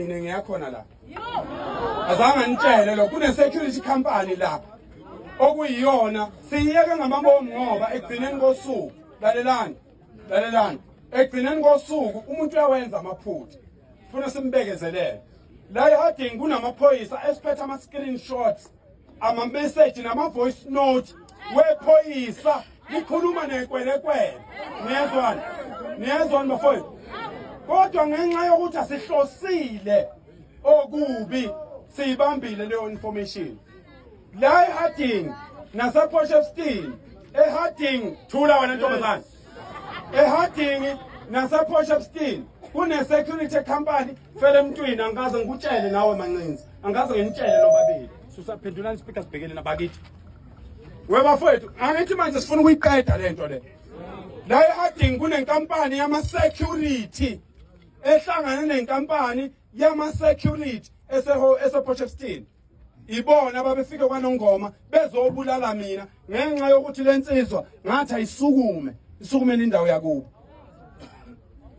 Mina ngiyakhona la. Azange nitshele lo kune security company la. Okuyiyona siyiyeke ngamabomu ngoba ekugcineni kosuku lalelani. Lalelani. Ekugcineni kosuku umuntu uyawenza amaphutha. Funa simbekezelele. La ehadini kunamaphoyisa esiphethe ama screenshots amameseji nama-voice note wephoyisa likhuluma nekwelekwele niyezwani niyezwani bafowethu kodwa ngenxa yokuthi asihlosile okubi siyibambile leyo information la eharding naseposhefstin eharding thula wena ntombazane eharding naseposhefstin kune-security company Fele emntwini angikaze ngikutshele nawe mancinzi. Angikaze nginitshele lobabili. Susaphendulani speaker sibhekene nabakithi. We bafowethu, angithi manje sifuna ukuyiqeda lento le. La eAding kunenkampani yama security ehlangana nenkampani yama security eseho esePortchefstroom. ibona babefike kwanongoma bezobulala mina ngenxa yokuthi le nsizwa ngathi ayisukume isukumele indawo yakubo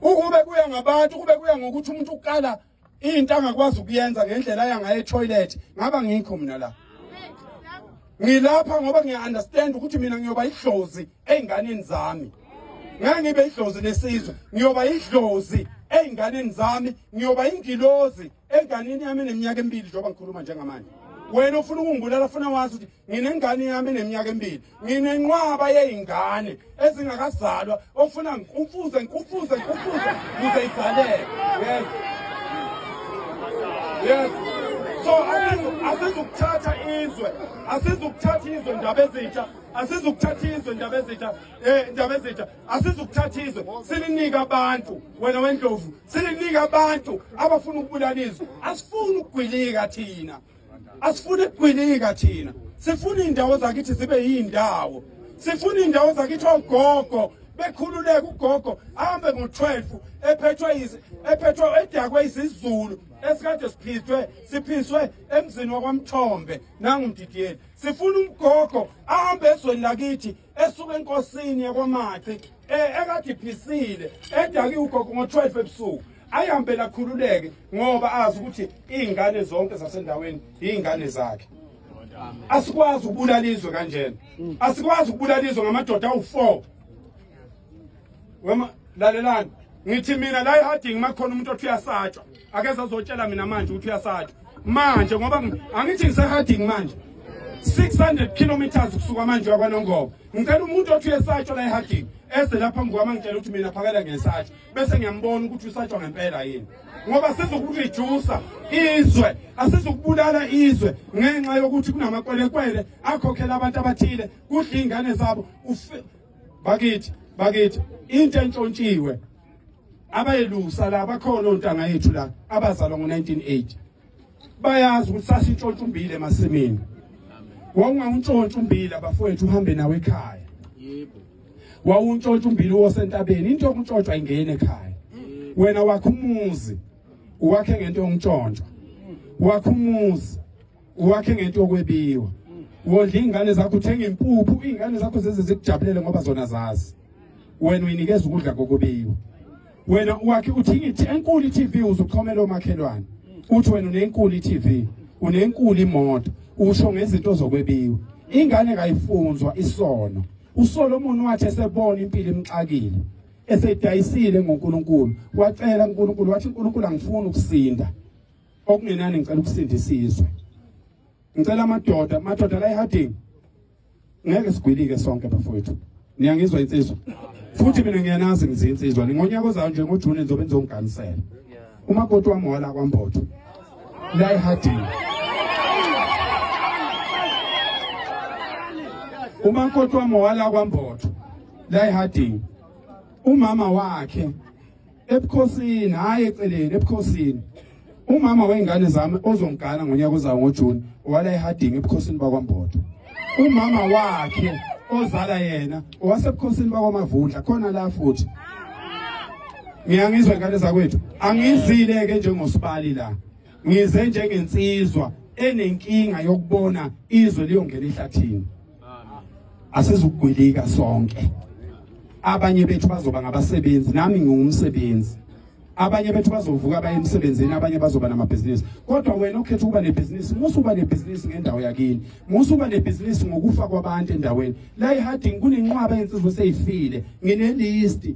ukube kuya ngabantu kube kuya ngokuthi umuntu ukala into angakwazi ukuyenza ngendlela yangaye etoilet ngaba ngikho mina la ngilapha ngoba ngiya-understand ukuthi mina ngiyoba idlozi ey'nganeni zami ngeke ngibe idlozi lesizwe ngiyoba idlozi ey'nganeni zami ngiyoba ingilozi enganeni yami eneminyaka emibili njengoba ngikhuluma njengamanje wena ufuna ukungibulala funa wazi ukuthi nginengane yami eneminyaka emibili nginenqwaba yey'ngane ezingakazalwa ofuna ngikufuze ngikufuze ngikufuze kuze izaleke yes yes so asizukuthatha izwe asizukuthatha izwe ndaba ezintsha asizukuthatha izwe ndaba ezintsha um ndaba ezintsha asizukuthatha izwe silinike abantu wena wendlovu silinike abantu abafuna ukubulala izwe asifuni ukugwilika thina asifuni ukugwilika thina sifuna iy'ndawo zakithi zibe yiy'ndawo sifuna iy'ndawo zakithi ogogo bekhululeke ugogo ahambe ngo-12 ephethwe ephethwe edakwe izizulu esikade siphithwe siphiswe emzini wakwamthombe nangumdidiyeli sifuna umgogo ahambe ezweni lakithi esuka enkosini yakwaMathi eh, ekade iphisile edaki ugogo ngo-12 ebusuku ayihambe lakhululeke ngoba azi ukuthi iy'ngane zonke zasendaweni yiy'ngane zakhe asikwazi ukubulala izwe kanjena asikwazi ukubulala izwe ngamadoda awu-four wema lalelani ngithi mina la eharding makhona umuntu othi uyasatshwa akeze azotshela mina manje ukuthi uyasatshwa manje ngoba angithi ngiseharding manje 600 kilometers kusuka manje wakwanongoba ngicela umuntu othi uyesatshwa la eharding eze lapha mngwama ngitshela ukuthi mina phakela ngesatshwa bese ngiyambona ukuthi usatshwa ngempela yini ngoba sizokureducer izwe asizokubulala izwe ngenxa yokuthi kunamakwelekwele akhokhela abantu abathile kudla iy'ngane zabo bakithi bakithi into entshontshiwe abayelusa la bakhona ontanga yethu la abazalwa ngo-1980 bayazi ukuthi sasintshontsha umbili emasimini wawungawuntshontsha umbili abafowethu uhambe nawe ekhaya yebo wawuntshontsha umbili wosentabeni into yokuntshontshwa ingene ekhaya wena wakho umuzi uwakhe ngento yokuntshontshwa wakho umuzi uwakhe ngento okwebiwa wondla ingane zakho uthenga impuphu ingane zakho zeze zikujabulele ngoba zona zazi wena uyinikeza ukudla kokubiwa wena uwakhe uthinga ithi enkulu iTV uzuxhomela omakhelwane uthi wena unenkulu iTV unenkulu imoto usho ngezinto zokwebiwa ingane kayifunzwa isono uSolomon wathi esebona impilo imxakile esedayisile ngoNkulunkulu wacela uNkulunkulu wathi uNkulunkulu angifuni ukusinda okungenani ngicela ukusindisa izwe ngicela amadoda amadoda la eHarding ngeke sigwilike sonke bafowethu niyangizwa insizwa futhi mina ngiyanazi ngizi insizwa ngonyaka ozayo nje ngoJune ngizobe ngizongiganisela umakoti wami wala kwaMbotho la eHarding umakoti wami wala kwaMbotho la eHarding umama wakhe ebukhosini hayi eceleni ebukhosini umama wengane zami ozongigana ngonyaka ozayo ngoJune wala ehadingi ebukhosini bakwaMbodo umama wakhe ozala yena owasebukhosini bakwamavundla khona la futhi ngiyangizwa ngane zakwethu angizile ke njengosibali la ngize njengensizwa enenkinga yokubona izwe liyongena ehlathini asizugwilika sonke abanye bethu bazoba ngabasebenzi nami ngingumsebenzi abanye bethu bazovuka baye emsebenzini abanye bazoba namabhizinisi kodwa wena ukhetha ukuba nebhizinisi musa uba nebhizinisi ngendawo yakini musa uba nebhizinisi ngokufa kwabantu endaweni la eharding kunenqwaba yensizwe seyifile nginelisti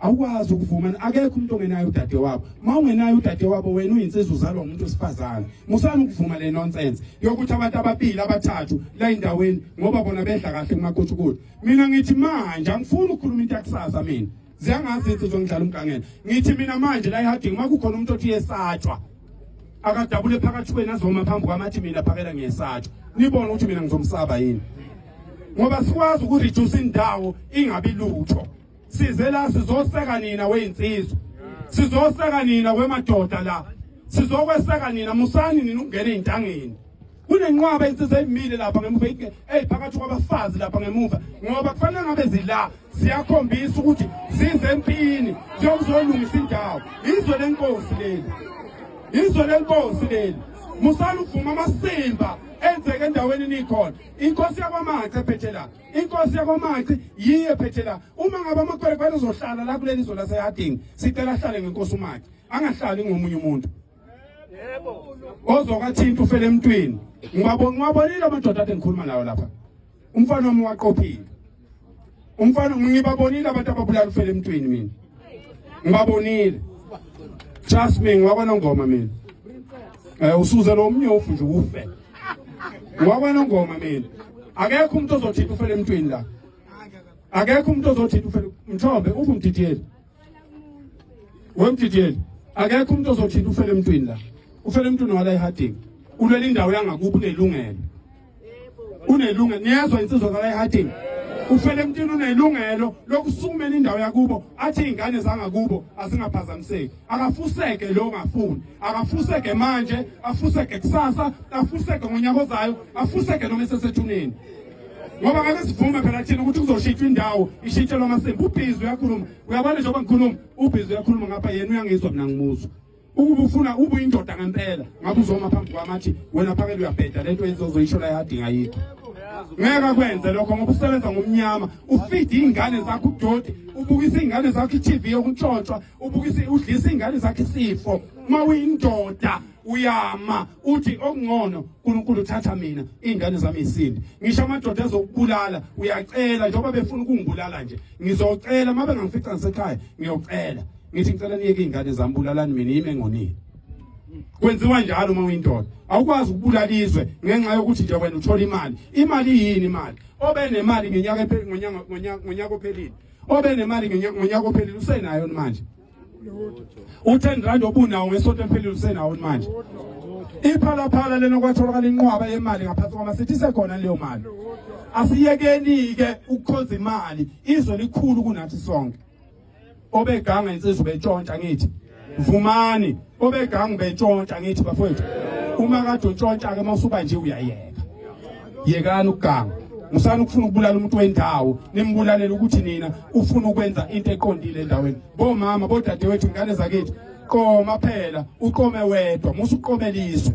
awukwazi ukuvumana akekho umuntu ongenayo udade wabo uma ungenayo udade wabo wena uyinsizwa uzalwa umuntu wesifazane musani ukuvuma le nonsense yokuthi abantu ababili abathathu la endaweni ngoba bona bedla kahle kumakutshukuthi mina ngithi manje angifuni ukukhuluma into yakusasa mina ziyangazi insizwa ngidlala umgangela ngithi mina manje la ehading uma kukhona umuntu othi yesatshwa akadabule phakathi kwenu azoma phambi kwamathi mina phakela ngiyesatshwa nibone ukuthi mina ngizomsaba yini ngoba sikwazi ukureduce indawo ingabi lutho size la sizoseka nina weyinsizwa sizoseka nina kwemadoda la sizokweseka nina musani nina ukungena ezintangeni kunenqwaba insizwa emile lapha ngemuva eyiphakathi kwabafazi lapha ngemuva ngoba kufanele ngabe zila siyakhombisa ukuthi size empini siyokuzolungisa indawo izwe lenkosi leli izwe lenkosi leli musani uvuma amasimba enzeke endaweni nikhona inkosi yakwamanxa ephethe la inkosi yakomaci yiyo ephethe la uma ngabe amakwerekwere uzohlala la kuleli zwe laseyadingi sicela ahlale ngenkosi umaci angahlali ngomunye umuntu ozokathinta ufele emntwini ngiwabonile amadoda ade ngikhuluma nawo lapha umfana wami waqophile umfana ngibabonile abantu ababulala ufele emntwini mina ngibabonile trust me ngiwakwanongoma mina um usuze lo mnyofu nje ufe Ngokwana ngoma mina. Akekho umuntu ozothitha ufele emntwini la. Akekho umuntu ozothitha ufele mthombe uphi umdidiyeli? Wemdidiyeli. Akekho umuntu ozothitha ufele emntwini la. Ufele emntwini wala eHarding. Ulwela indawo yangakuphi unelungelo. Unelungelo. Niyezwa insizwa kala eHarding. ufele emntwini unelungelo lokusukumela indawo yakubo athi iy'ngane zangakubo azingaphazamiseki akafuseke lo ngafuni akafuseke manje afuseke kusasa afuseke ngonyaka ozayo afuseke noma esesethuneni ngoba ngake sivume phela thina ukuthi kuzoshintshwa indawo ishintshelwa amasimba ubhizi uyakhuluma uyabona njengoba ngikhuluma ubhizi uyakhuluma ngapha yena uyangizwa mina ngimuzwa ukuba ufuna ube uyindoda ngempela ngabe uzoma phambi kwami athi wena phakele uyabheda lento ezozoyisho la yadinga yikho ngeke akwenze lokho ngoba usebenza ngomnyama ufide iy'ngane zakho udoti ubukisa iy'ngane zakho i-tv yokuntshontshwa ubukise udlisa ingane zakhe isifo uma uyindoda uyama uthi okungcono uNkulunkulu uthatha mina ingane zami isindi ngisho amadoda ezokubulala uyacela njengoba befuna ukungibulala nje ngizocela uma bengangifica ngisekhaya ngiyocela ngithi ngicela niyeke ingane zami bulalani mina yime ngonini kwenziwa njalo uma uyindoda awukwazi ukubulala izwe ngenxa yokuthi nje wena uthola imali imali yini imali obenemali ngenyaka ngonyaka ngonyaka ophelile obe nemali ngonyaka ophelile usenayo manje u10 rand obunawo ngesonto eliphelile usenawo manje iphalaphala lena kwatholakala inqwaba yemali ngaphansi kwama sithi sekhona leyo mali asiyekeni ke ukukhonza imali izwe likhulu kunathi sonke obeganga insizwa betshontsha ngithi Vumani obegangu betshontsha ngithi bafowethu uma kade utshontsha ke mawusuba nje uyayeka yekani ukuganga musani ukufuna ukubulala umuntu wendawo nimbulalela ukuthi nina ufuna ukwenza into eqondile endaweni bomama bodadewethu ingane zakithi qoma phela uqome wedwa musuqomeliswe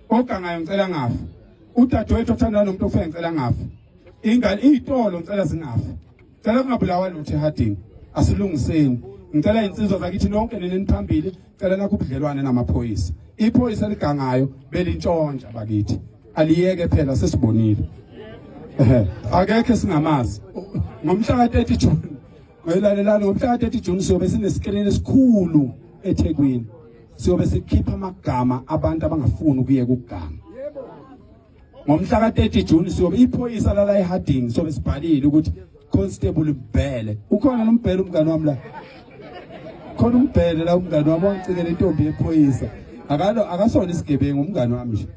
ogangayo ngicela ngafa udadewethu othandana nomuntu ofike ngicela ngafa ingane iyitolo ngicela zingafa cela kungabulawa lutho ehadini asilungiseni ngicela insizwa zakithi nonke neneniphambili cela nakho ubudlelwane namaphoyisa iphoyisa ligangayo belintshontsha bakithi aliyeke phela sesibonile ehe akekho singamazi ngomhla ka-30 June Ngoyilalelani ngomhla ka-30 June siyobe sinesikrini esikhulu eThekwini. Siyobe sikhipha amagama abantu abangafuni ukuye kugama. Ngomhla ka-30 June siyobe iphoyisa lala eHarding siyobe sibhalile ukuthi Constable Mbhele. Ukhona nombhele umngane wami la. Khona umbhele la umngane wami wangicikela intombi yephoyisa. Akalo akasona isigebengu umngane wami nje.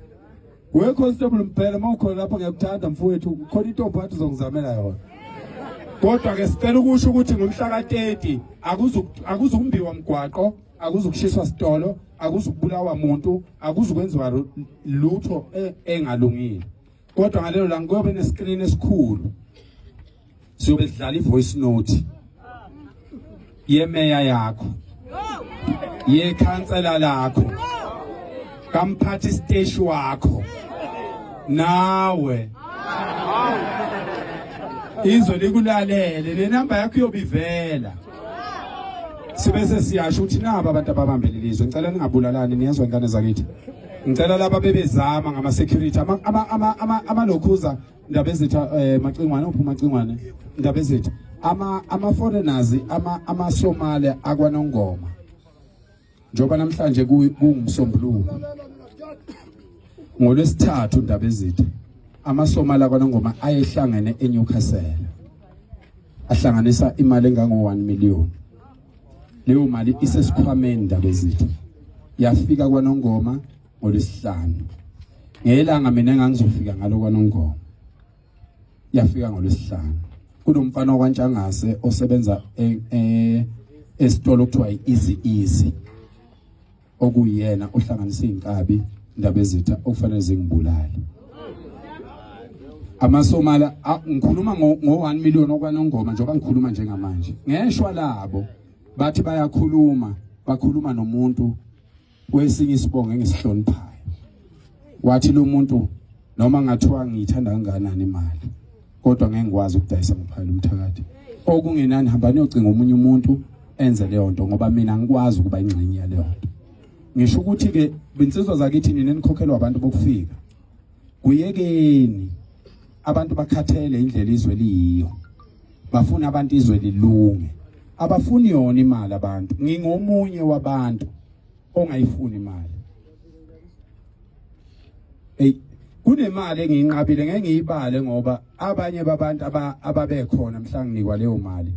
We Constable Mbhele mawukhona lapha ngiyakuthanda mfowethu ukhona intombi wathi uzongizamela yona. Kodwa ke sicela ukusho ukuthi ngomhla ka-30 akuzukumbiwa mgwaqo, akuzukushiswa sitolo, akuzukubulawa muntu, akuzukwenziwa lutho e, engalungile. Kodwa ngalelo langa kuyobe nesiskrini esikhulu. siyobe sidlala ivoice note yemeya yakho yekhansela lakho kamphathi station wakho nawe izwe likulalele nenamba yakho iyobivela sibese siyasho ukuthi naba abantu ababambele lizwe ngicela ningabulalani niyezwa ingane zakithi ngicela laba bebezama ngama security ama ama ama, ama, ama lokhuza Ndabezitha eh Macingwane uphuma Macingwane Ndabezitha ama ama foreigners ama ama Somalia akwanongoma njoba namhlanje kungumsombuluko ngolwesithathu Ndabezitha ama Somalia akwanongoma ayehlangene eNewcastle ahlanganisa imali engango 1 million leyo mali isesikhwameni Ndabezitha yafika kwanongoma ngolwesihlanu ngelanga mina ngangizofika ngalo kwanongoma yafika ngolwesihlanu kunomfana okwantshangase osebenza e, e, esitolo kuthiwa easy easy okuyena ohlanganisa izinkabi indaba ezitha okufanele zingibulale amasomala ngikhuluma ngo 1 million okwanongoma njengoba ngikhuluma njengamanje ngeshwa labo bathi bayakhuluma bakhuluma nomuntu kwesinye isibongo engisihloniphayo wathi lo muntu noma ngathiwa ngiyithanda kangakanani imali kodwa ngeke ngikwazi ukudayisa ngophayela umthakathi okungenani hamba niyocinga omunye umuntu enze leyo nto ngoba mina ngikwazi ukuba ingxenye yaleyo nto ngisho ukuthi-ke binsizwa zakithi nina nikhokhelwa abantu bokufika kuyekeni abantu bakhathele indlela izwe liyiyo bafuna abantu izwe lilunge abafuni yona imali abantu ngingomunye wabantu ongayifuni imali hey kunemali engiyinqabile ngeke ngiyibale ngoba abanye babantu ababekhona mhla nginikwa leyo mali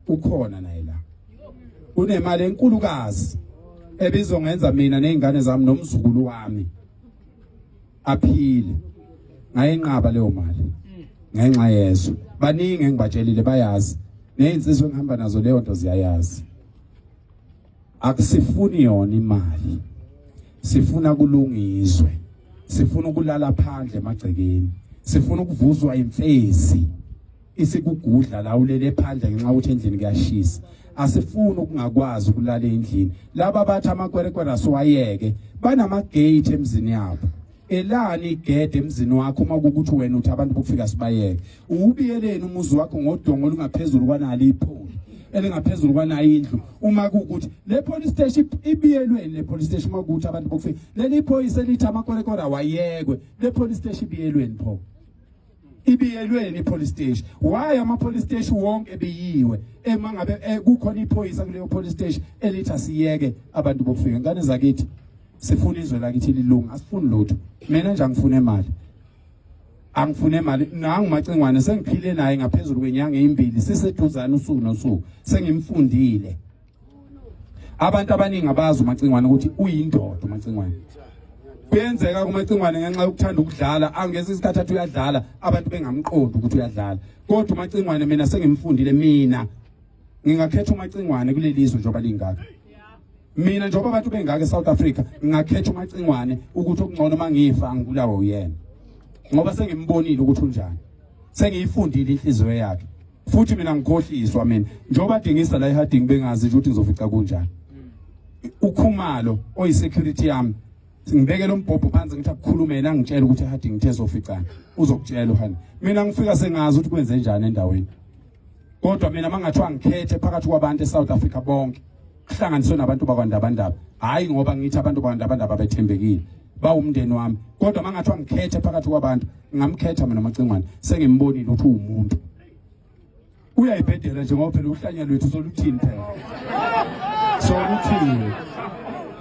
ukhona naye la kunemali enkulukazi ebizongenza mina nezingane zami nomzukulu wami aphile ngayenqaba leyo mali ngenxa yezo baningi engibatshelile bayazi nezinsizwe engihamba nazo leyo nto ziyayazi akusifuni yona imali sifuna kulungizwe sifuna ukulala phandle emagcekeni sifuna ukuvuzwa imfezi isikugudla la ulele phandle ngenxa ukuthi endlini kuyashisa asifuni ukungakwazi ukulala endlini laba bathi amakwerekwere asiwayeke banamagate emzini yabo elani igede emzini wakho uma kukuthi wena uthi abantu bokufika sibayeke uwubiyeleni umuzi wakho ngodongo olungaphezulu kwanalo ipholi elingaphezulu kwanayo indlu uma kukuthi le police station ibiyelweni le police station uma kukuthi abantu bokufika leli phoyisa elithi amakwerekwere awayekwe le police station ibiyelweni pho ibiyelweni ipolice station why ama police station wonke ebiyiwe ema ngabe eh, kukhona iphoyisa kuleyo police station elitha siyeke abantu bokufika ngane zakithi sifuna izwe lakithi lilunga asifuni lutho mina nje angifune imali angifune imali nangu macingwane sengiphile naye ngaphezulu kwenyanga ezimbili siseduzana usuku nosuku sengimfundile abantu abaningi abazi umacingwane ukuthi uyindoda umacingwane kuyenzeka kumacingwane ngenxa yokuthanda ukudlala angeza isikhathi athi uyadlala abantu bengamqondi ukuthi uyadlala kodwa umacingwane mina sengimfundile mina ngingakhetha umacingwane kuleli zwe njengoba lingaka mina njengoba abantu bengaka eSouth Africa ngingakhetha umacingwane ukuthi okungcono mangifa angibulawa uyena ngoba sengimbonile ukuthi unjani sengiyifundile inhliziyo yakhe futhi mina ngikhohliswa mina njengoba dingisa la eHarding bengazi ukuthi ngizofica kunjani ukhumalo oyisecurity yami ngibeke lo mbhobho phansi ngithi akukhulumele angitshela ukuthi eHarding ngithe soficana uzokutshela uhani mina ngifika sengazi ukuthi kwenze njani endaweni kodwa mina mangathiwa ngikhethe phakathi kwabantu eSouth Africa bonke kuhlanganiswe nabantu bakwandabandaba hhayi ngoba ngithi abantu bakwandabandaba bethembekile bawumndeni wami kodwa mangathiwa ngikhethe phakathi kwabantu ngingamkhetha mina macingwane sengimbonile ukuthi uwumuntu uyayibhedela nje ngoba phela uhlanya lwethu soluthini phela soluthini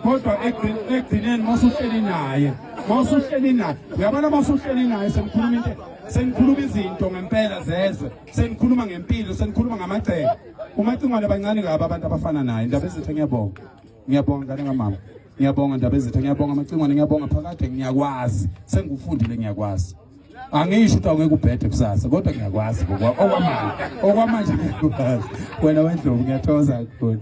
kodwa ekugcineni masuhleli naye masuhleli naye uyabona masuhleli naye senikhuluma into senikhuluma izinto ngempela zezwe senikhuluma ngempilo senikhuluma ngamagceke umacingwane bancane kabi abantu abafana naye ndaba ezithe ngiyabonga ngiyabonga ngane kamama ngiyabonga ndaba ezithe ngiyabonga amacingwane ngiyabonga phakade ngiyakwazi sengikufundile ngiyakwazi angisho ukuthi awungeke ubhede kusasa kodwa ngiyakwazi okwamanje okwamanje ngiyakwazi wena wendlovu ngiyathokoza kakhulu